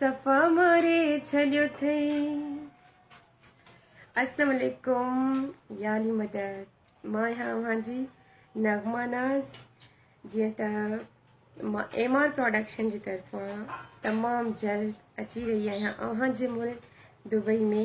صفا ماري ڇڏيو ٿئي. السلام عليڪم يا علي مدد مان آهيان اوهان جي نغمه ناز جيئن ته مان ايم آر پروڊڪشن جي طرفان تمام جلد اچي رهي آهيان اوهان جي ملڪ دبئي ۾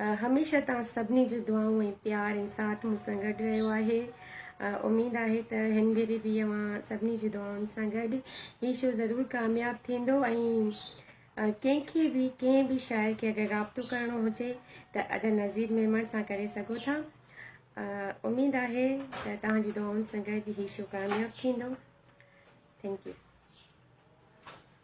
هميشه توهان سڀني جو دعائون ۽ پيار ۽ ساٿ مون سان گڏ رهيو آهي اميد آهي ته هن ڀيري به اوهان سڀني جي دعائن سان گڏ هي شو ضرور ڪامياب ٿيندو ۽ ڪنهن کي به ڪنهن به شاعر کي اگر رابطو ڪرڻو هجي ته ادا نذير ميمڻ سان ڪري سگهو ٿا اميد آهي ته توهان جي دعائن سان گڏ هي شو ڪامياب ٿيندو ٿينڪ يو